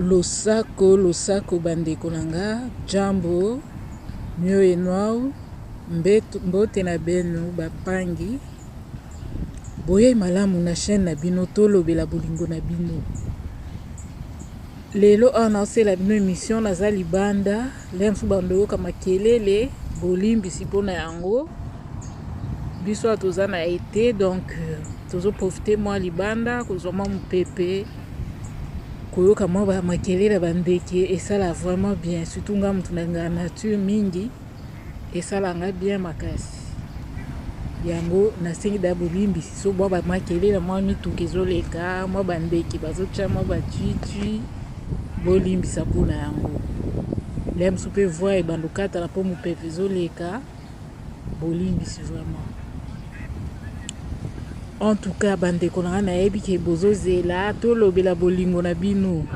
Losako, losako bandeko na nga, jambo, mio enwau, mbote na beno bapangi. Boyei malamu na chaîne na bino tolobela bolingo na bino. Lelo awa naosela bino emission naza libanda, lelo mosusu bando yoka makelele, bolimbisi mpo na yango. Biso awa toza na ete donc tozo profite mwa libanda kozwa mwa mopepe koyoka mwa ba makelele ya bandeke esala vraiment bien surtout nga moto nalingaka nature mingi esala nga bien makasi yango nasengi da bolimbisi so mwa bamakelele mwa mituka ezoleka mwa bandeke bazotya mwa batwitwi bolimbisa mpona yango lea mosusu mpe voi ebanda okatana mpo mopepe ezoleka Bolimbisi vraiment. En tout cas, bandeko na nga nayebi ke bozozela tolobela bolingo na bino.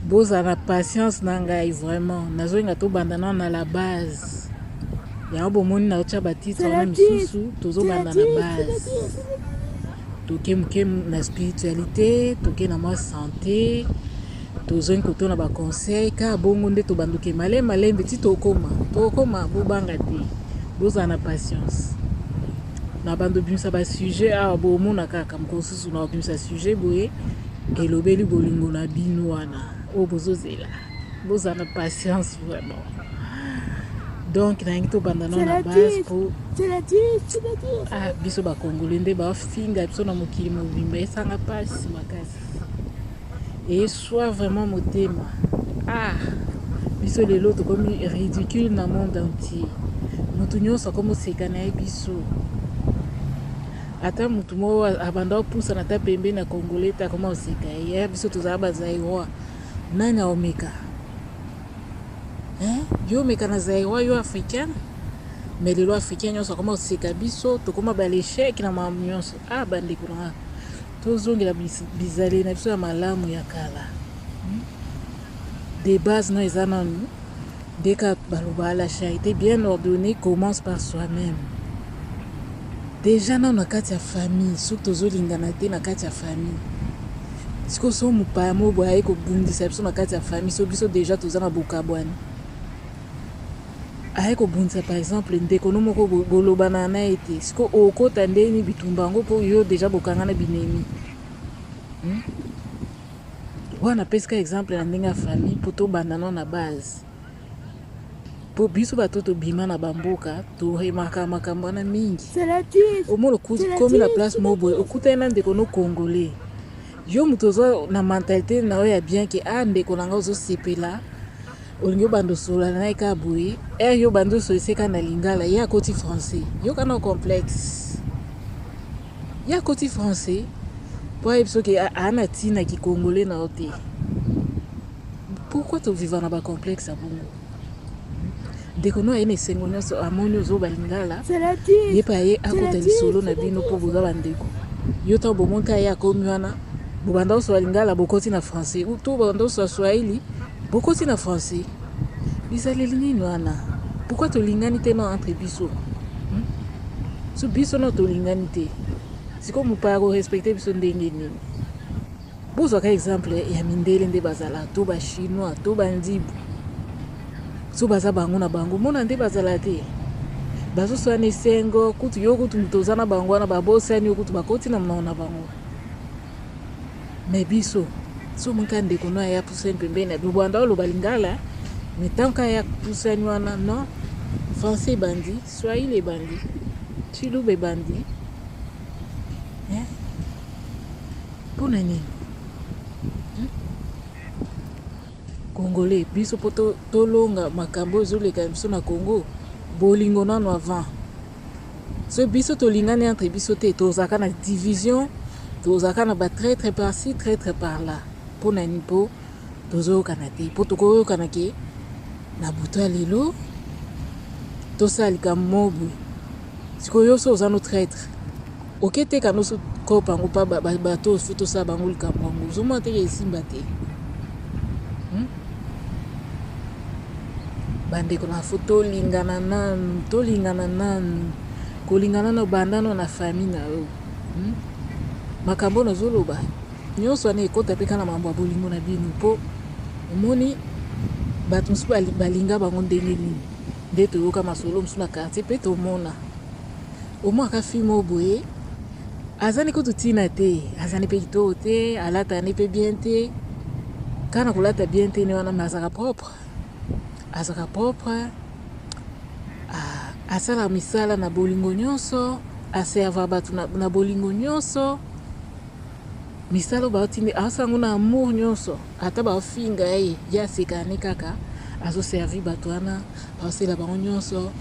Boza na patience na ngai vraiment. Nazolinga tobanda na na la base. Yango bomoni na otya batitre wana misusu tozobanda na base. Toke moke na spiritualité, toke na mwa santé. tozongi kotuna ba conseil ka bongo nde tobanduke male malembe ti tokoma tokoma bobanga te bozala na patience na bando bimisa ba sujet awa bomona kaka mokolo mosusu na obimisa sujet boye elobeli bolingo na bino wana oyo bozozela bozala na patience vraiment donc nayangi tobanda nao na base po ah, biso bakongole nde bafinga biso na mokili mobimba esanga mpasi makasi Eswa vraiment motema ah biso lelo tokomi ridicule na monde entier mutu nyonso akomi oseka na ye biso ata mutu moko abanda opusana ata pembeni na congolais te akoma oseka ye eh, biso tozala bazairois nani aomeka eh, yo omeka na zairois yo africain mais lelo africain nyonso akoma oseka biso tokoma balecheke na makambo nyonso ah bandeko na nga Tozongela bizaleli na biso ya malamu ya kala. De base no eza nanu nde ka baloba la charité bien ordonnée commence par soi-même. Deja nanu na kati ya famille soki tozolingana te na kati ya famille sikoyo so mopaya moko boye aye kobundisa biso na kati ya famille so biso deja toza na bokabwani aye kobundisa par exemple ndeko no moko boye bolobana na ye te siko okota ndeni bitumba yango mpo yo deja bokanga na binemi hmm? wana napesika exemple na ndenge ya famille mpo tobanda no na base mpo biso bato tobima na bamboka toremaka makambo wana mingi omona okomi na place moko boye okutani na ndeko no congolais yo moto oza na mentalite na yo ya bien ke a ah, ndeko na ngai ozosepela olingi obanda osolola na ye kaka boye ere yo obanda osolise kaka na lingala ye akoti français yoka na complexe ye akoti français mpo ayebi soki aa na ntina kikongole na yo te pourkui toviva na bacomplexe ya bongo ndeko no aye na esengo nyonso amoni ozoba lingala ye mpe aye akota lisolo na bino mpo boza bandeko yo ntango bomonka ye akomi wana bobanda osola lingala bokoti na français to bobanda osola swahili Bokoti na français bizaleli nini wana pourquoi tolingani te no entre biso hmm? so biso no tolingani te sikoyo mopaya korespecte biso ndenge nini bozwaka exemple ya mindele nde bazala to bachinois to bandibu so baza bango na bango mona nde bazala te bazoswana esengo kutu yo kutu moto oza na bango wana babosani yo kutu bakoti na monoko na bango Mais biso soki ka ndeko no aya pusani pembeni na bino banda oloba lingala mais tant ka ya pusani wana non français ebandi swahili ebandi chiluba ebandi eh? mpo na nini hmm? congolais biso mpo tolonga makambo ezoleka biso na congo bolingo nano avant Ce biso tolingani entre biso te tozaka na division tozaka na ba traitre par ci traitre par là pona ni po tozoyokana te po tokoyokana ke na buta lelo tosala likambo mobo sikoyo yo so oza no traitre Oke te kano so kopa yango pa bato oyo fo tosala bango likambo yango ozomona teke esimba te hmm? bandeko na fo tolingana nanu tolingana nanu kolingana na bandano na fami na yo hmm? makambo oyo nazoloba nyonso wana ekota mpe kaka na mambo ya bolingo na bino mpo omoni bato mosusu balinga bango ndenge nini nde toyoka masolo mosusu na quartier mpe tomona Omwaka fille moko boye aza nde kutu ntina te aza nde mpe kitoko te alata nde mpe bien te kaka na kolata bien te nde wana me azalaka propre azalaka propre asalaka misala na bolingo nyonso aserva bato na bolingo nyonso misala oyo baotindi asala yango na amour nyonso Ata ba finga ye ye aseka ne kaka azo servir batu wana aosela bango nionso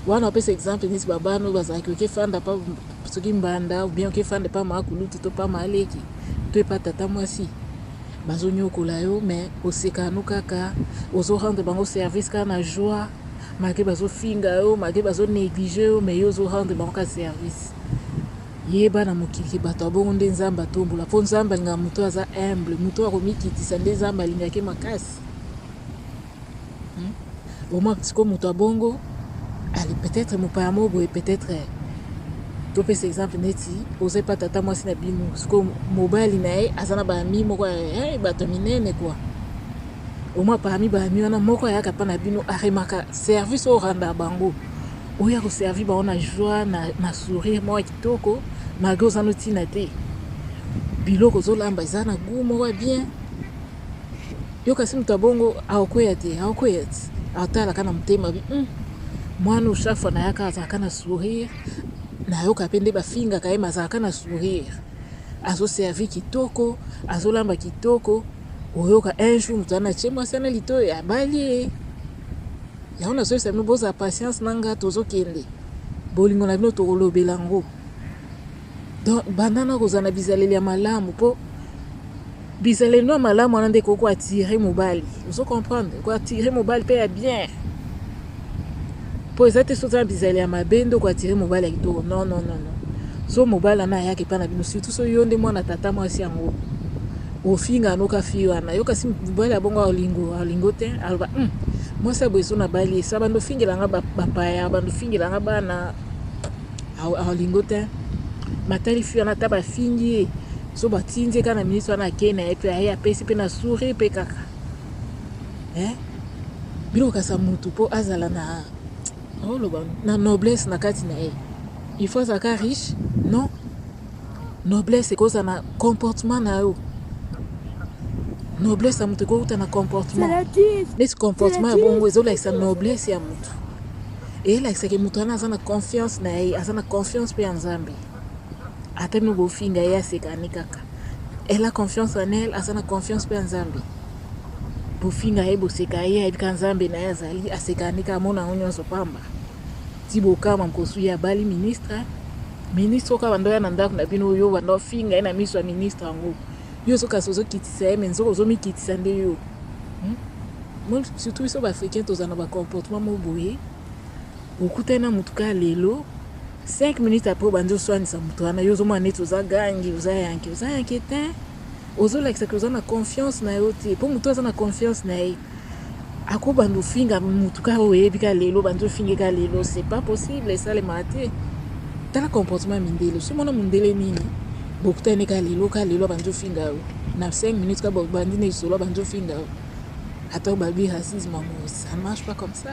wana opesa exemple neti ba bana oyo bazalaki oke fanda pa soki mbanda ou bien oke fanda pa ma kulutu to pa ma leki to epa tata mwasi bazo nyokola yo mais oseka no kaka ozo rendre bango service kaka na joie malgré bazo finga yo malgré bazo negliger yo mais yo ozo rendre bango ka service Yeba na mokili bato ya bongo nde Nzambe atombola po Nzambe alingaka moto oyo aza humble, moto oyo akomikitisa nde Nzambe alingaka ye makasi. Hmm? Omaka sikoyo moto ya bongo ali peut-être mopaya moko boye peut-être topesa exemple neti oza epa tata mwasi na bino sikoyo mobali na ye aza na baami moko eh, bato ya minene kua au moins parmi ba amis wana moko ayaka pa na bino aremaka service au randa bango oya ko servir bango na joie na, na sourire moko kitoko malgré oza no tina te biloko ozolamba eza na gout moko ya bien yo kasi moto ya bongo aokweya te aokweya te atalaka na motema bi mm. mwana chaque fois nayaka azalaka na sourire nayoka mpe nde bafingaka ye mazalaka na sourire azoservi kitoko azolamba kitoko oyoka un jour moto wana atie mwasi wana litoyo ya bali ye yango nazoyesa bino bozala patience na nga tozokende bolingo na bino tokolobela yango donc banda na kozala na bizaleli ya malamu mpo bizaleli no ya malamu wana nde ekoki koatire mobali ozo comprendre ekoatire mobali mpe ya bien po eza te soki oza na bizaleli ya mabe nde oko attire mobali ya kitoko non non non non so mobali wana ayaka epai na bino surtout so yo nde mwana tata mwasi yango ofinga anoka fi wana yo kasi mobali ya bongo aolingo aolingo te aloba hmm, mwasi ya boye so nabali esa bando ofingela nga bapaya bando ofingela nga bana aolingo te matali fi wana ata bafingi ye so batindi ye kaka na minisi wana akei na ye mpe aye apesi mpe na souri mpe kaka eh bino kasa mutu po azala na oloba oh, na noblesse na kati na ye il faut azalaka riche non noblesse ekoza na comportement na yo noblesse ya moto ekouta na comportement neti comportement ya bongo ezolakisa noblesse ya moto eyelakisaki moto wana aza na confiance na ye aza na confiance mpe ya nzambe ata mino bofinga ye asekani kaka Elle a confiance en elle, aza na confiance pe ya Nzambe. Bofinga ye, boseka ye, ayebi ka Nzambe na ye azali, aseka nde ka amona yango nyonso pamba. Ti bokama mposu ye abali ministre, ministre oka banda oya na ndako na bino yo banda ofinga ye na miso ya ministre yango. Yo ozo kasi ozo kitisa ye mais nzoka ozo mikitisa nde yo. Hmm? Surtout biso ba africains tozana ba comportement mo boye. okutani na motu kaka lelo 5 minutes après obandi oswanisa motu wana yo ozomona neti oza gangi oza yanke oza yanke te ozolakisa ke oza na confiance na yo te mpo motu aza na confiance na ye akobanda ofinga motu kaka oyo oyebi ka lelo obandi ofinge ka lelo c'est pas possible esalemaka te tala comportement mindele somona mondele nini bokutani ka lelo ka lelo abandi ofinga yo na 5 minutes ka bandi na lisolo abandi ofinga yo ata obabi racisme yango ça ne marche pas comme ça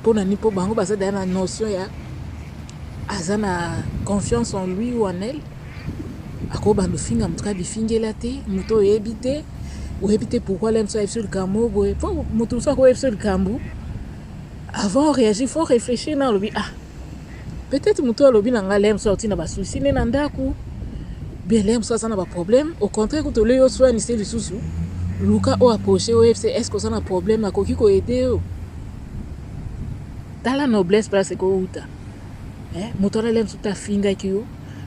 mpo na nini mpo bango baza daya na notion ya aza na confiance en lui ou en elle akobanda ofinga moto kaka bifingela te moto oyebi te oyebi te pourkui le mosu ayebi so likambo boye mpo moto mosu akoyebi so likambo avant oréagir faut réfléchir na olobi ah peut-être moto alobi na ngai lemso auti na ba souci nde na ndako bien lemso aza na ba problème au contraire kutu olei oswanise lisusu luka oyo approche oyo yebisa est ce que oza na problème akoki koyede yo tala noblesse place ekouta eh, moto wana lemso te afingaki yo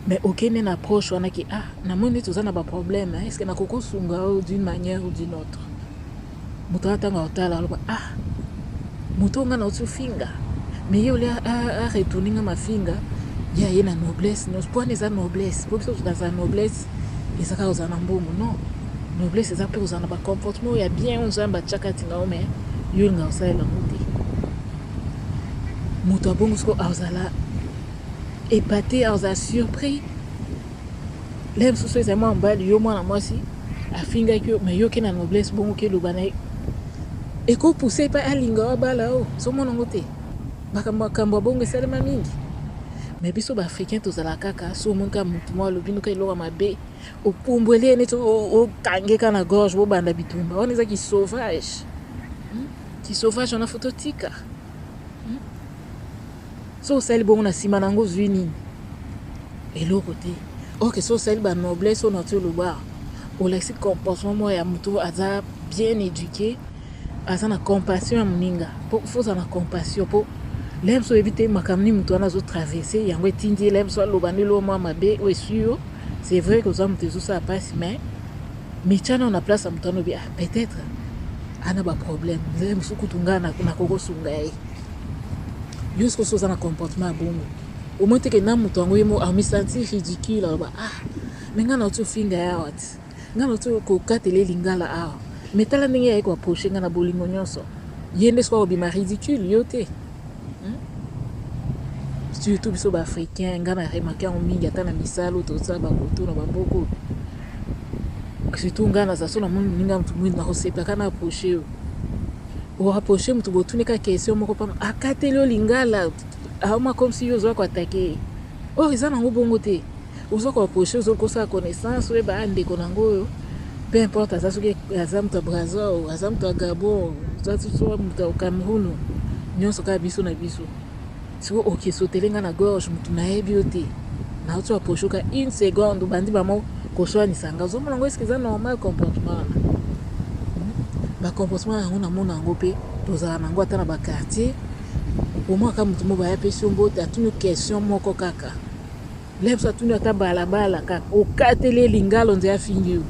mais okende na approche wana ke ah namoni neti oza na ba problème est ce que nakoki osunga yo d'une manière ou d'une autre moto atanga otala aloba ah moto oyo ngai nauti ofinga me ye olia aretourne ngai mafinga ye aye na noblesse nyonso mpo wana eza noblesse mpo biso tozala noblesse eza kaka kozala na mbongo non noblesse eza mpe kozala na bacomportement oyo ya bien oyo nzambe atyaka ntinga yo me yo olinga kosalela yango te moto abongo soko azala epate azala surpris Lève sous ezali mwana mobali yo mwana mwasi afingaki yo mais yo ke na noblesse bongo ke loba na ye eko pousse epai alinga yo abala yo ozomona yango te makambo makambo ya bongo esalema mingi mais biso baafricain tozala kaka so omoni kaka motu mwa alobi noka eloko ya mabe opumbweli ye neti okange ka na gorge bobanda bitumba wana eza kisauvage hmm? kisauvage wana fo totika soki osali bongo na nsima na yango ozwi nini eloko te oke soki osali banoblesse oyo nati oloba olakisi comportement moko ya moto aza bien éduqué aza na compassion ya moninga mpo fozala na compassion mpo lem so oyebi te makambo nini moto wana azotraverse yango etindi ye lem so aloba ndelo oyo mwa mabe oyo esui yo c'est vrai koza moto ezosala mpasi mais mityana oyo na place ya moto wana obi ah, peut-être ana baproblème nzele mosusu kutu ngai nakokosunga ye Yo sikoyo oza na comportement ya bongo. Omoni te ke na moto yango ye moko amisanti ridicule aloba ah me ngai nauti ofinga ye awa ti ngai nauti kokatela ye lingala awa me tala ndenge yayei koaproche ngai na bolingo nyonso ye nde soki akobima ridicule yo te hmm? surtout biso baafricain ngai na remake yango mingi ata na misala tozala bakoto na baboko surtout ngai naza so namoni moninga motu mwini nakosepaka na aproche yo O rapprocher mutu botuni kaka question moko pamba akateli yo lingala aoma comme si yo oza ko attaquer ye or eza nango bongo te oza ko approcher oza kosala connaissance oyeba ah ndeko nango oyo peu importe aza soki aza mutu ya Brazza o aza mutu ya Gabon aza soki mutu ya Cameroun nyonso kaka biso na biso Siko oke sotele nga na gorge mutu nayebi yo te nauti wa poshoka une seconde obandi bamo koswanisa nga ozomona ngo eske eza normal comportement wana hmm? ba comportement yango namona yango mpe tozala nango ata na ba quartier omwaka mutu mo baya pesi yo mbote atuni question moko kaka Lèvres atuni ata balabala kaka okateli ye lingalo nze afingi yo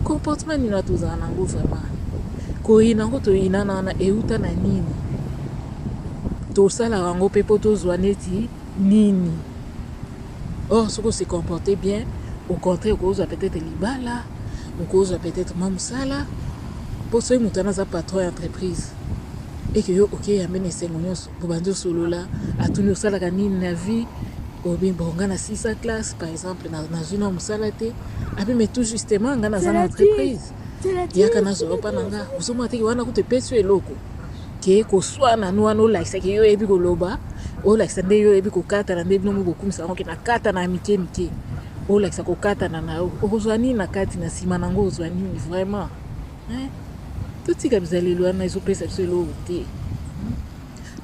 comportement nini tozala na yango vraiment koyina yango toyinana wana euta na nini tosalaka yango mpe mpo tozwa neti nini or soki ose comporte bien au contraire okozwa peut-être libala okozwa peut-être mwa mosala mpo soki moto wana aza patron ya entreprise eke yo okeyambe na esengo nyonso bobandi osolola atuni osalaka nini na vie obi bon nga na 6 classe par exemple nazwi na mosala te abi mais tout justement nga naza na entreprise yaka nazwa opa na nga ozomona teke wana kutu epesi yo eloko ke koswana no wana olakisaki yo oyebi koloba olakisa nde yo oyebi kokatana nde bino mokokumisa yango ke nakatana ya mike mike olakisa kokatana na yo okozwa nini na kati na nsima na yango ozwa nini vraiment Eh, totika bizaleli wana ezopesa biso eloko te hmm?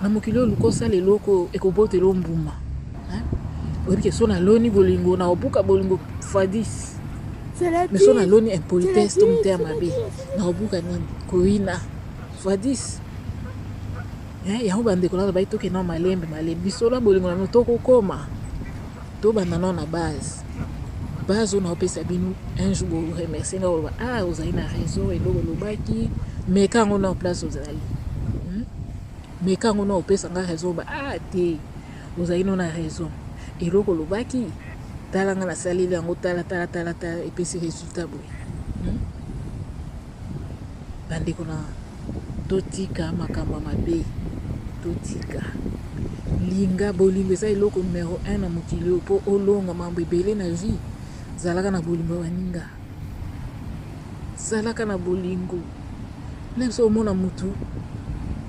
na mokili oyo luka osala eloko ekobotela o mbuma eh? oyebi ke so naloni bolingo na obuka bolingo fadis me so naloni impolitesse to moteya mabe na obuka nini koyina fadis eh, yango bandeko nano bayi tokenda malembe malembe biso na bolingo na bino tokokoma To banda nao na base. Base oyo nao pesa bino un jour bo remercier nga ba ah ozali na raison eloko lobaki mais quand on en place ozali. Hmm? Mais quand on en pesa nga raison ba ah te ozali no na raison eloko lobaki tala nga na saleli yango tala tala tala tala epesi resultat boye. Hmm? Bandeko na Totika makambo ya mabe totika linga bolingo eza eloko numero 1 na mokili oyo mpo olonga mambo ebele na vie zalaka na bolingo ya baninga zalaka na bolingo meme so omona motu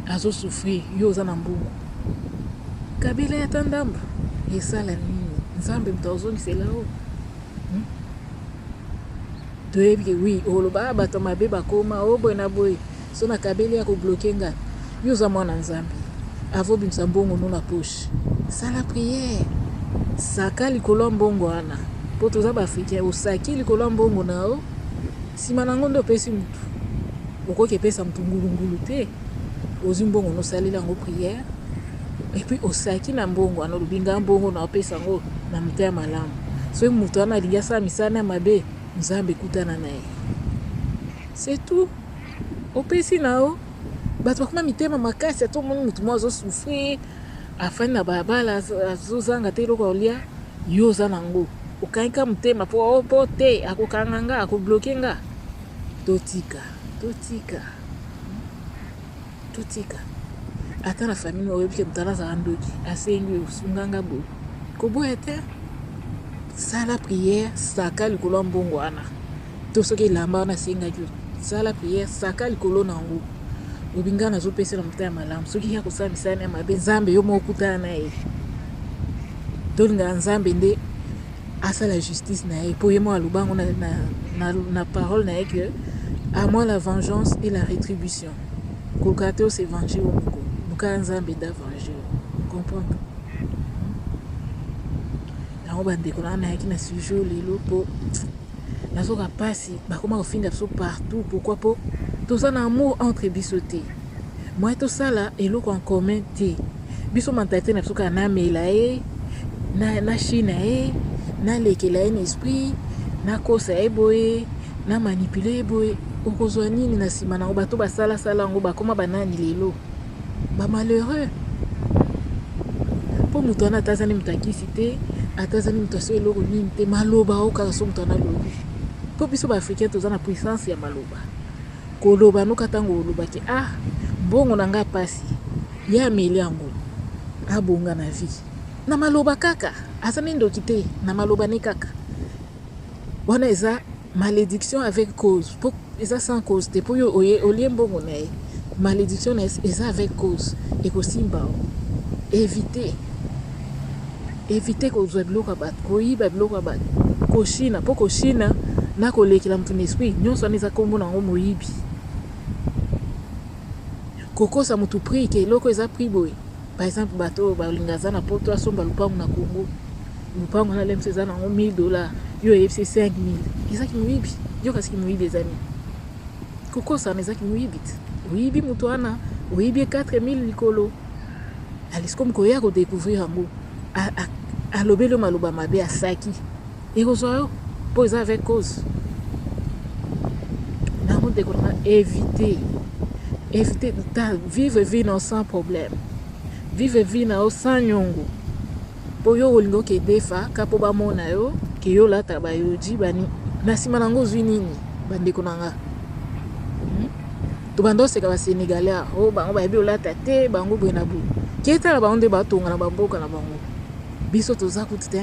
azosouffrir yo oza na mbongo kabila ya ta ndambo esala nini nzambe moto azongisela yo Toyebi ke oui okoloba ah batu ya mabe bakoma oh boye na boye soki na kabeli ako bloque nga yo oza mwana nzambe avant obimisa mbongo no na poche sala prière saka likolo ya mbongo wana po toza ba africain osaki likolo ya mbongo na yo nsima na yango nde opesi mutu okoki epesa mutu ngulungulu te ozwi mbongo nosalela yango prière Et puis osaki na mbongo wana olobi nga mbongo na opesa yango na motema malamu. Soki moto wana alingi asala misala na mabe, Nzambe kutana na ye. C'est tout. Opesi na yo bato bakoma mitema makasi ata omoni motu moko azosouffrir afandi na balabala azozanga te eloko aolia yo oza na yango okangi ka motema mpo oh, mpo te akokanga nga akobloke nga totika totika Totika. Ata na famille oyo oyebi ke mutala azala ndoki, asengi yo sunga nga boye. Koboya te. Sala prière, saka likolo ya mbongo wana. To soki elamba wana asengaki yo, sala prière, saka likolo na yango. Lobi nga nazopesa na motema malamu. Soki ya kosala misala na mabe, Nzambe yo moko kutana na ye. Tolingaka Nzambe nde asala justice na ye mpo ye moko aloba yango na, na, na, na parole na ye que à moi la vengeance et la rétribution Ko gratter o se venger yo moko. Luka Nzambe da venger yo. Comprendre? Yango ba ndeko na nayaki na sujet lelo po nazoka pasi bakoma kofinga biso partout pourquoi po toza na amour entre biso te moye tosala eloko en commun te biso mentalite na biso kaka namela ye na china ye nalekela ye na esprit nakosa ye boye Na manipuler ye boye okozwa nini na sima nango bato basala sala yango bakoma banani lelo ba malheureux po moto wana atazani moto akisi te atazani moto aso eloko nini te maloba o kaka so moto wana alobi po biso ba africain toza na puissance ya maloba koloba noka ntango olobaki ah mbongo na ngai mpasi ye ameli yango abonga na vie na maloba kaka aza ne ndoki te na maloba ne kaka Wana eza malediction avec cause po eza sans cause te po yo oye olie mbongo na ye malediction na eza avec cause ekosimba o éviter éviter kozwa biloko ya bato koyiba biloko ya bato koshina po koshina na kolekela moto na esprit nyonso wana eza nkombo na yango moyibi kokosa moto prix ke eloko eza prix boye Par exemple, bato oyo balinga aza na poto asomba lupangu na Congo. Lupangu na lemse eza nango 1000 dollars, yo oyebisi 5000. Eza kimoyibi. Yo kasi kimoyibi eza nini? Kokosana eza kimoyibi te. Oyibi moto wana, oyibi 4000 likolo. Alisikomi koya ko découvrir yango. Alobeli yo maloba mabe, asaki. Ekozwa yo po eza avec cause. Nango ndeko na éviter. Éviter ta vivre vie na sans problème. Vivre vie na sans nyongo. Po yo olinga okedefa ka po bamona yo ke yo lata ba yoji bani na sima nango ozwi nini bandeko na nga. tobanda oseka basenegalais ah, o oh, bango bayebi olata te bango boye na boye ketala bango nde batonga na bamboka na bango biso toza kuti te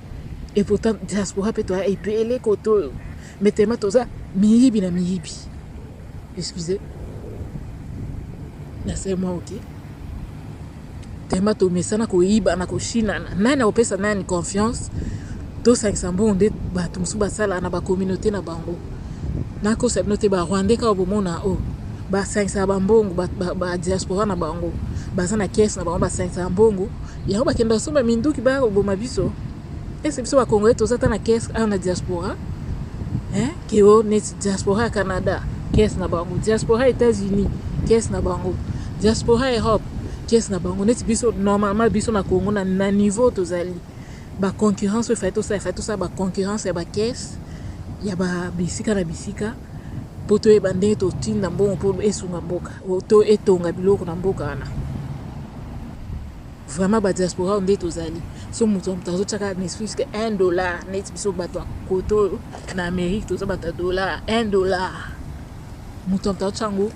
Et pourtant, diaspora peut toi epele koto. Mais tellement toza miyibi na miyibi. Excusez. Na c'est moi ok. Tellement to mesana ko yiba na ko shina. Nani opesa nani confiance? To sangisa mbongo nde bato mosusu basala na ba communauté na bango. Na ko sabino te ba Rwandais ka bomona o. Oh, ba sangisa ba mbongo ba, ba, ba diaspora na bango. Baza na caisse na bango ba sangisa mbongo. Yango bakenda kosomba minduki baya koboma biso ese biso bakongole toza ata na kese awa na diaspora eh, keo neti diaspora ya canada kese na bango diaspora états-unis kese na bango diaspora europe kese na bango neti biso normalement biso na congo na, na niveau tozali baconcurrence oyo efai tosala efai tosala baconcurrence ya bakese ya ba bisika na bisika mpo toyeba ndenge totinda mbongo mpo esunga mboka to etonga biloko na mboka wana vraiment badiaspora oyo nde tozali so moto ya moto azotyaka ne fuse ke 1 dollar neti biso bato ya koto oyo na amérique toza bato ya dollar 1 dollar moto ya moto azotya yango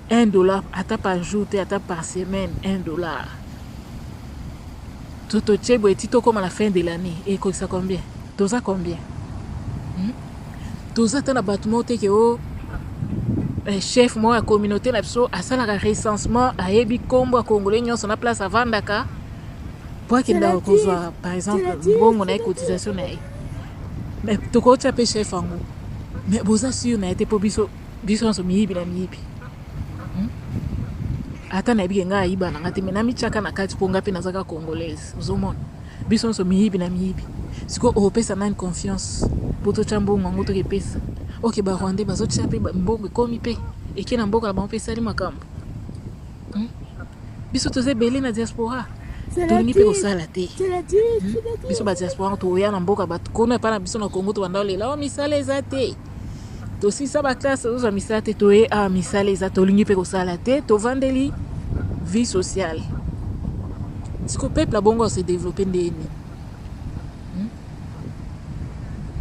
1 dollar ata par jour te ata par semaine 1 dollar totye boye ti tokóma na fin de l'année ekokisa combien toza combien toza ata na bato moko te ke o oh, Eh, chef moko ya communauté na biso asalaka recensement ayebi nkombo ya congolais nyonso na place avandaka mpo akendaka kozwa par exemple mbongo na ye cotisation na ye me tokotya mpe chef yango me boza sur na ye te mpo biso biso nyonso miyibi na miyibi hmm? ata nayebi ke ngai ayiba na ngai te me namityaka na kati mpo ngai mpe nazaka congolaise ozomona Biso nso miyibi na miyibi. Siko opesa nani confiance po totia mbongo yango toke pesa. Ok ba rwandais bazotia pe mbongo ekomi pe eke na mboka na bango pe esali makambo. Hmm? Biso toza ebele na diaspora. tolingi mpe kosala te hmm? biso badiaspora toya na mboka bato kono epai na biso na congo tobanda olela o oh, misala eza te tosilisa baklasse tozozwa misala te toye awa ah, misala eza tolingi mpe kosala te tovandeli vie sociale siko peuple abongo ase développe ndenge nini hmm?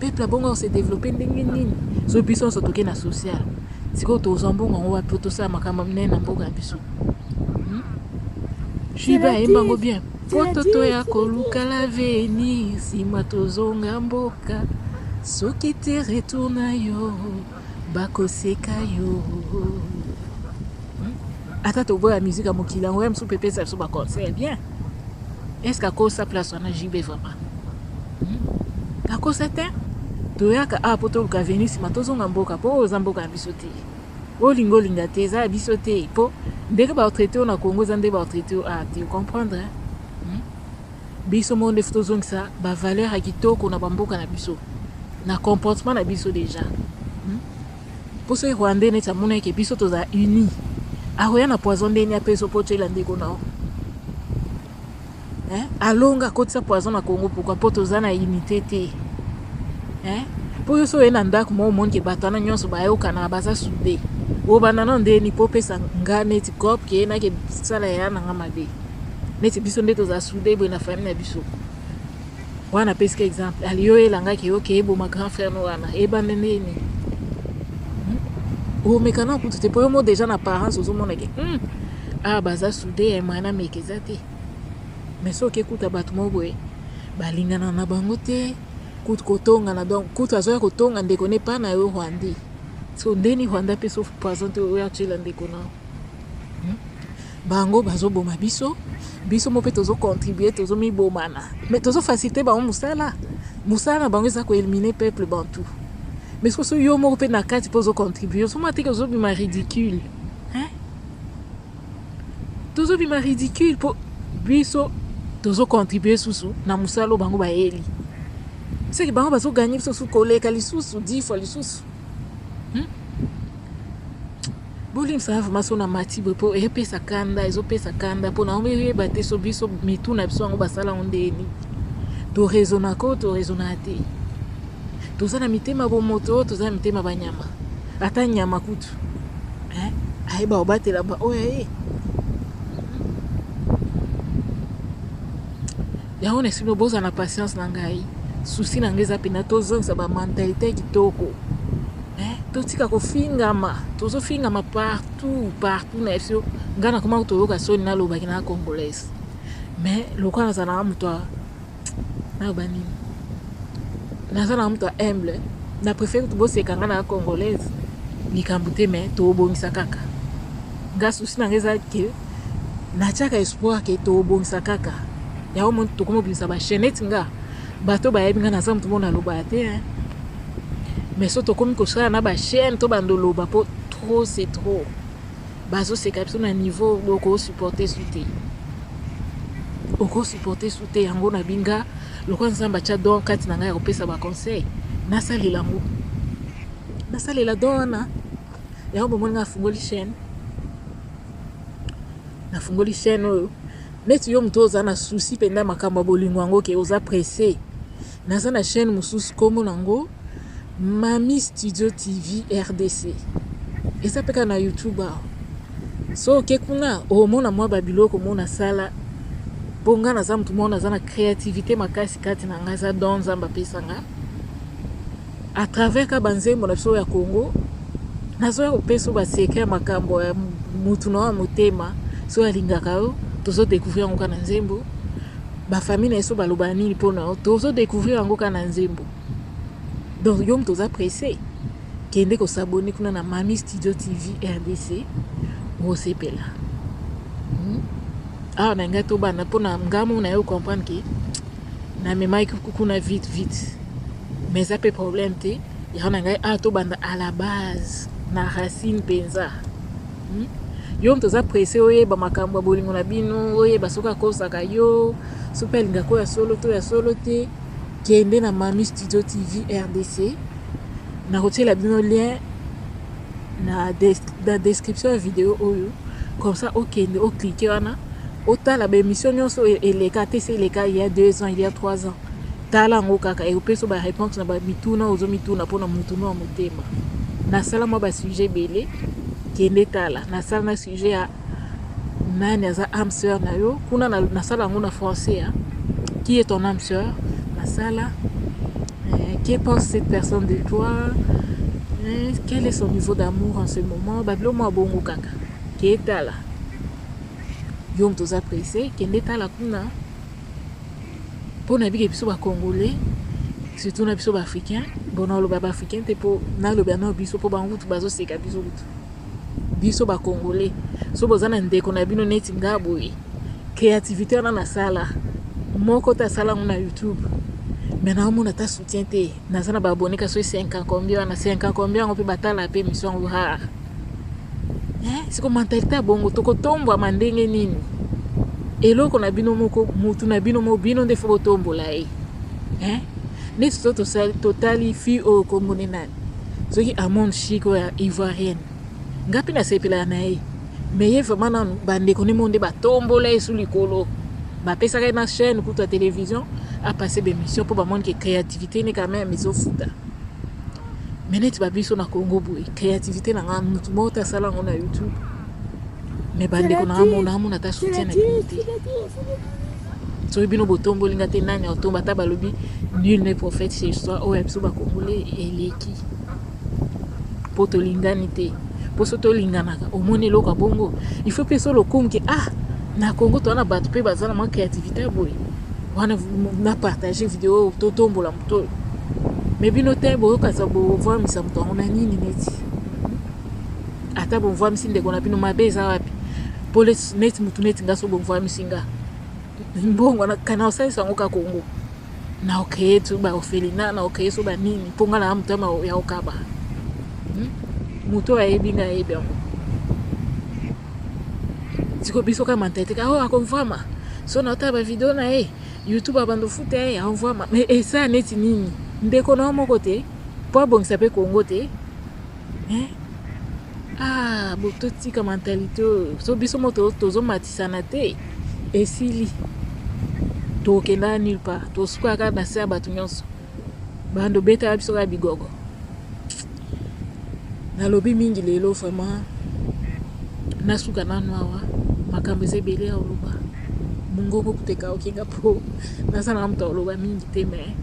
peuple abongo ase développe ndenge nini so biso nyonso toke na sociale sikoyo tozwa mbongo yango wapi po tosala makambo minene na mboka ya biso hmm? juibe ayemba yango bien Poto toya koluka laveni nsima tozonga mboka soki te retour na yo bakoseka yo hmm? ata toboya musique ya mokili yango ya mosusu mpe epesa biso baconseil bien estce akosa place wana jb vraiment hmm? akosa te toyaka awa ah, mpo toluka veni nsima tozonga mboka mpo oyo oza mboka ya biso te Olinga olinga te eza ya biso te po ndenge ba traite yo na Congo eza ndenge ba traite yo awa te comprendre hmm? biso moko nde tozongisa ba valeur ya kitoko na ba mboka na biso na comportement na biso deja hmm? po soki rwandais neti amonaki biso tozala unis akoya na poison ndeni apesa opo otyela ndeko na yo hein? alonga akotisa poison na congo pourkui mpo toza na unité te hein? mpo yo so oye na ndako moko omoni ke bato wana nyonso bayokanaka baza sude obanda na ndeni mpo opesa nga neti cop ke nake sala ya na nga mabe neti biso nde tozala sude boye na famille na biso wana apesi ka exemple aliyo elangaki yo ke eboma grand frère no wana ebande nini hmm? omeka na kutu te mpo yo mo déjà na parence ozomona ke hmm, awa ah, baza soude ya moyen ameka eza te mais soki ekuta bato moko boye balingana na bango te kutu kotongana donc kutu azoya kotonga ndeko ne pa na yo rwandais so ndeni rwanda mpe so poison te oyo atyela ndeko nao Bango bazo boma biso, biso moko pe tozo contribuer, tozo mi bomana. Mais tozo faciliter bango musala. Musala na bango eza ko eliminer peuple bantou. Mais sikoyo soki yo moko pe na kati pe ozo contribuer, ozo mona te ke ozo bima ridicule. Hein? Tozo bima ridicule po biso tozo contribuer susu na musala oyo bango bayeli. Seke bango bazo gagner biso susu koleka lisusu, 10 fois lisusu. Bolimbisa nga vraiment so namati boye mpo epesa kanda ezopesa kanda mpo naomi eyeba te so biso mitu na biso yango basala yango ndenge nini toraisonaka oyo toraisonaka te toza na mitema bomoto oyo toza na mitema banyama ata nyama kutu eh, ayeba kobatela baoyo aye yango na sima bozala na patience na ngai susi na ngai eza mpena tozongisa bamentalité ya kitoko eh, totika kofingama tozofingama partout partout na biso ngai nakomaki toyoka soni nalobaki na congolaise mais lokola nazalaka moto ya naloba nini nazalaka moto ya humble na préfère kutu boseka ngai na congolaise likambo te mais tobongisa kaka ngai susi na ngai eza ke na tiaka espoir ke tobongisa kaka yango mo tokoma obimisa bachaine neti nga bato bayebi nga naza moto moko nalobaka te hein. mais so tokomi kosala na bachaine to bando loba mpo trop c'est trop bazoseka biso na niveau okosupporte su te okosupporte su te yango na binga lokola nzambe atya don kati na ngai ya kopesa baconseil nasalela yango nasalela don wana yango bomoni ngai afungoli chaine nafungoli chaîne oyo neti yo moto oza na souci mpenza ya makambo ya bolingo yango ke oza presse naza na chaîne mosusu nkombo nango mami studio tv rdc eza mpe kaka na youtube awa so oke kuna omona mwa babiloko mona asala mpo ngai naza moto moko naza na créativité makasi kati na ngai eza don nzambe apesa ngai A travers ka ba nzembo na biso ya Congo, nazo ya kopesa ba secret ya makambo ya mutu na wa motema, soki alingaka yo, tozo decouvrir yango ka na nzembo. Ba famille na biso baloba nini mpo na yo, tozo decouvrir yango ka na nzembo. Donc yo mutu oza presse, kende ko s'abonner kuna na Mami Studio TV RDC, osepela. Hmm? Awa na ngai tobanda mpo na ngai mona yo comprendre que na memaki kuna vite vite mais eza mpe problème te yaka na ngai awa ah, tobanda à la base na racine mpenza hmm? yo moto oza presse oyeba makambo ya bolingo na bino oyeba soki akosaka yo soki mpe alingaka oyo ya solo to ya solo te kende na mami studio tv rdc nakotiela bino lien na, des, na description ya video oyo comme ça okende oclike wana otala baémission nyonso oyo eleka te se eleka il ya deux ans il ya trois ans tala yango kaka ekopesa baréponse na bamituna ozo mituna mpo na motuna ya motema nasala mwa basujet ebele kende tala nasala na sujet ya nani aza âme sœur na yo kuna na, na sala yango na français hein? qui est ton âme sœur na sala eh, que pense cette personne de toi eh, quel est son niveau d'amour en ce moment babilo mwa bongo kaka ke tala yo moto oza presse kende tala kuna mpo na bike biso bacongolais surtout na biso baafricain bon naloba baafricain te mpo naloba nao biso mpo bango kutu bazoseka biso kutu biso ba congolais so boza na ndeko na bino neti nga boye créativité wana nasala moko te asala yango na youtube me naomona ata soutien te naza na baabone ka soki 5 combien wana 5 combien yango mpe batala mpe émission yango rare eh, siko mentalite ya bongo tokotombwama ndenge nini eloko na bino moko mutu na bino moko bino nde fo botombola ye eh? neti to totali fille oyo kombo ne nani Soki Amon chic oyo ya ivoirienne nga pe na sepelaka na ye mais ye vraiment nanu ba ndeko ne mo nde ba tombola ye sous likolo ba pesaka ye na chaîne kutu ya television a passer ba emission po ba moni ke creativite ne quand même ezo futa mais neti ba biso na Congo boye creativite na nga mutu moko ta sala ngo na YouTube mais ba ndeko na nga mona amona ta soutien na ye te soki bino botomboli nga te nani aotomba ata balobi nul ne prophète chez soi oyo ya biso bakongole eleki mpo tolingani te mpo so tolinganaka omoni eloko ya bongo il faut mpe so lokongi ah na congo toa na bato mpe baza na mwa créativité ya boye wana na partage video oyo totombola moto oyo me bino te boyokasa bovwamisa moto yango na nini neti ata bovwamisi ndeko na bino mabe eza wapi pole neti mutu neti nga so bovwamisi nga mbongo kana osalisa yango ka kongo na okeye tu baofelina na okeye so banini mpo nga naa motema ya okaba hmm? moto oyo ayebi nga ayebi yango siko biso ka mentalite ka oyo oh, akonvwama so naotala bavideo na ye youtube abando futa ye akonvwama mais esaa neti nini ndeko na yo moko te mpo abongisa mpe kongo te eh? Ah, bo totika mentalite oyo so biso mo tozomatisana te esili tokenda nulle part tosuka kaka na se ya bato nyonso bando betaka biso kaka bigogo nalobi mingi lelo vraiment nasuka nanu awa makambo eza ebele ya oloba mongongo kuteka okenga mpo nazala na moto ya oloba mingi te me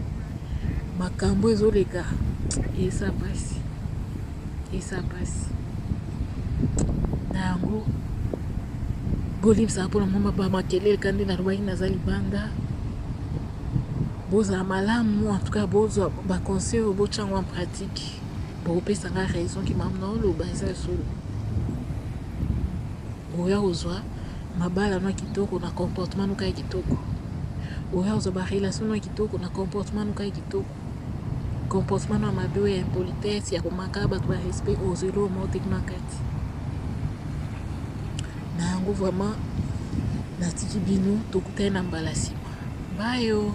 makambo ezoleka eza mpasi eza mpasi na yango bolimbisaka mpona mwa bamakelele kandi nalobaki naza libanda bozala malamu en tout cas bozwa baconseil oyo botya yango en pratique bokopesa nga raison ki mamu na oloba eza solo oya kozwa mabala no kitoko na comportement noka ya kitoko oya kozwa barelation no ya kitoko na comportement noka ya kitoko Comportement na mabe oyo ya impolitesse ya komaka bato ba respect ozwi lomo oteki na kati na yango vraiment natiki bino tokutani na mbala nsima bayo